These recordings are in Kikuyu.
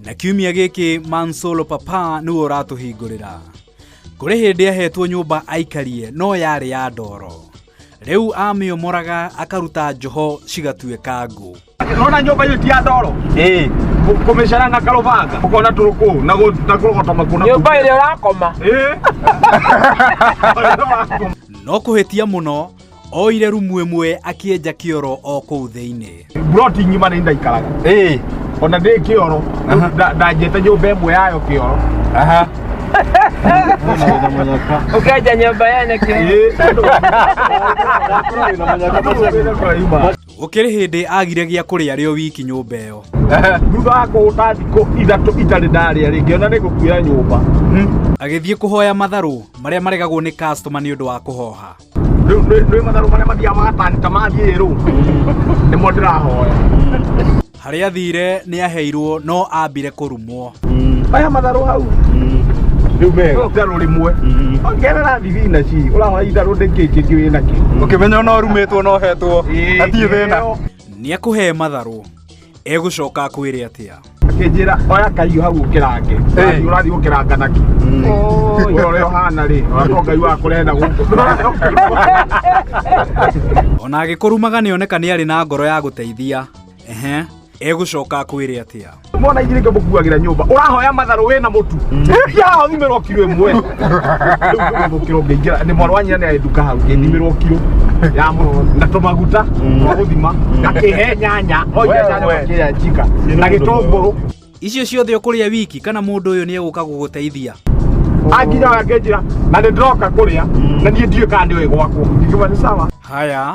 na kiumia gĩkĩ mansolo papa nĩwe ũratũhingũrĩra kũrĩ hĩndĩ ahetwo nyũmba aikarie no yarĩ ya ndoro rĩu amĩomoraga akaruta njoho cigatuĩka ngũ nona nyumba hiyo ti ya ndoro eh kumeshana na karubanga ukona turuku na go na kurogota makuna nyumba ile urakoma eh no kũhĩtia mũno Oire rumu ĩmwe akĩenja kĩoro o kũu thĩinĩ. Buroti ng'ima nĩ ndaikaraga. Ĩĩ. Ona ndĩ kĩoro ndanjĩte nyũmba ĩmwe yayo kĩoro. Aha. Ũkenja nyũmba yene kĩoro. Gũkĩrĩ hĩndĩ agire gĩa kũrĩa arĩ o wiki nyũmba ĩyo. Thutha wa kũhũta thikũ ithatũ itarĩ ndarĩa rĩngĩ ona nĩ gũkuoya nyũmba. Agĩthiĩ kũhoya matharũ marĩa maregagwo nĩ customer nĩ ũndũ wa kũhoha. Rĩu nĩ nĩ matharũ marĩa mathiaga magatanĩka mathiĩ rũ nĩmo ndĩrahoya harĩa thire nĩ aheirwo no ambire kũrumwo aya matharũ hau rĩu mega itharũ rĩmwe ongerera thibinaci ũrahoya itharũ ndĩngĩ kĩngĩ wĩ nakĩ ũkĩmenya no rumĩtwo no hetwo hatirĩ thĩna nĩ akũhe matharũ egũcoka akwĩre atĩa akĩnjĩra oya kahiũ hau ũkĩrange Hey. Ũrathiĩ- ũrathiĩ ũkĩranga naki ũrĩa ũrĩa ũhana rĩ ũrakorwo ngai wakũrehe na gũkũ ona agĩkũrumaga nĩ oneka nĩ arĩ na ngoro ya gũteithia ehe egũcoka akwĩre atĩa mwana inyirĩke mũkuagĩra nyũmba ũrahoya matharũ wĩna mũtu yahothimĩrwo kiro ĩmwe gukira ngĩingĩra nĩ mwarũ wanyina nĩ aĩnduka hau ngĩthimĩrwo kiro ya mũno na tũmaguta twa gũthima ngakĩhe nyanya oiga nyanya Wewe. makĩya njika na gĩtũngũrũ icio ciothe ũkũrĩa wiki kana mũndũ ũyũ nĩ egũka gũgũteithia anginya wangĩnjĩra na nĩ ndĩroka kũrĩa na niĩ ndiũĩ kana nĩ ũĩ gwakwo ngiuma nĩ sawa haya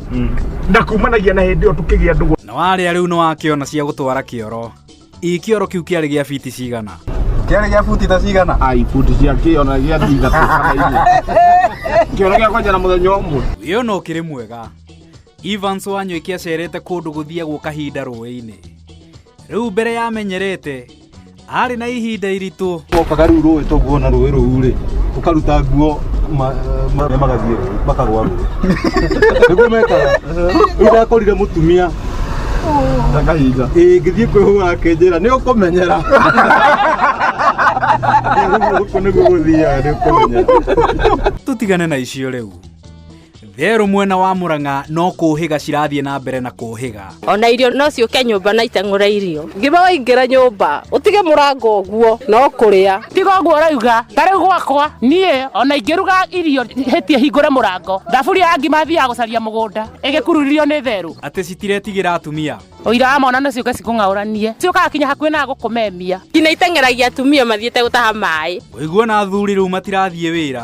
na kumanagia na hĩndĩ ĩyo tũkĩgĩa ndũgũ na warĩa rĩu nĩ wakĩona cia gũtwara kĩoro ii kĩoro kĩu kĩarĩ gĩa biti cigana kĩarĩ gĩa buti ta cigana ai buti cia kĩona gĩa ndinga kĩona gĩa kwanja na mũthenya ũmwe wĩyo no kĩrĩ mwega evans wanywĩke acerete kũndũ gũthiagwo kahinda rũĩ-inĩ rĩu mbere yamenyerete arĩ na ihinda iritũ mokaga rĩu rũĩ toguo na rũĩ rũu rĩ ũkaruta nguo ma- ma- marĩa magathiĩ rũĩ, makagwa rũĩ nĩguo mekaga rĩu ndakorire mũtumia ndakahinga ĩĩ ngĩthiĩ kwĩhũra akĩnjĩra nĩ ũkũmenyera ũguo nĩguo gũthiaga nĩ ũkũmenyera tũtigane na icio rĩu therũ mwena wa mũrang'a no kũhĩga cirathiĩ na mbere na kũhĩga ona irio no ciũke nyũmba na itang'ũra irio ngima waingĩra nyũmba ũtige mũrango ũguo no kũrĩa tiga ũguo ũrauga ta rĩu gwakwa niĩ ona ingĩruga irio hĩtie hingũre mũrango thaburia ya ngima thiaga gũcaria mũgũnda ĩgĩkururio nĩ therũ atĩ citiretigĩra atumia ũira wa mwana nĩ ciũke cikũng'aũranie ciũkaga kinya hakuhĩ na gũkũmemia nginya iteng'eragia atumia mathiĩte gũtaha maĩ ũiguo na athuri rĩu matirathiĩ wĩra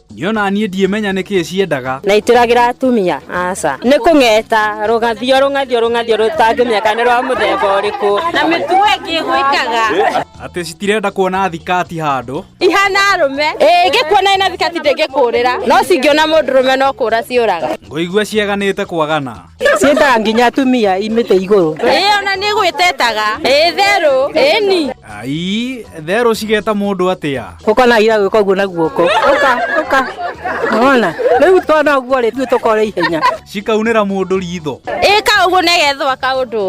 Niona niĩ ndiĩmenya nĩkĩ ciendaga. Na itũragĩra atumia aca. Nĩ kũng'eta rũgathio rũgathio rũgathio rũtangĩmenya kana nĩ rwa mũthemba ũrĩkũ. Na mĩtugo ĩngĩ gwĩkaga. Atĩ citirenda kuona thikati handũ. Ihana arũme. Ĩĩ ingĩkuona ĩna thikati ndĩngĩkũrĩra. No cingĩona mũndũ rũme no kũra ciũraga. Ngũigua ciaganĩte kwagana. ciendaga nginya atumia imĩte igũrũ ĩĩ ona nĩ gwĩtetaga ĩĩ therũ ĩni ai therũ cigeta mũndũ atĩa ũkonagira gwĩka ũguo na guoko ũka ũka ona rĩu twana ũguo rĩ tuĩ tũkore ihenya cikaunĩra mũndũ ritho ĩĩ ka ũguo negethwa kaũndũ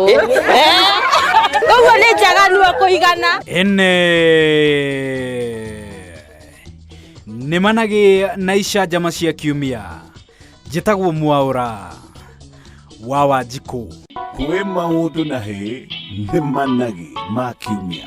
ũguo nĩ njaganu kũigana ene nĩmanagĩ na icanjama cia kiumia njĩtagwo mwaũra wa wanjikũ kwĩ maũndũ na hĩ nĩ managĩ ma kiumia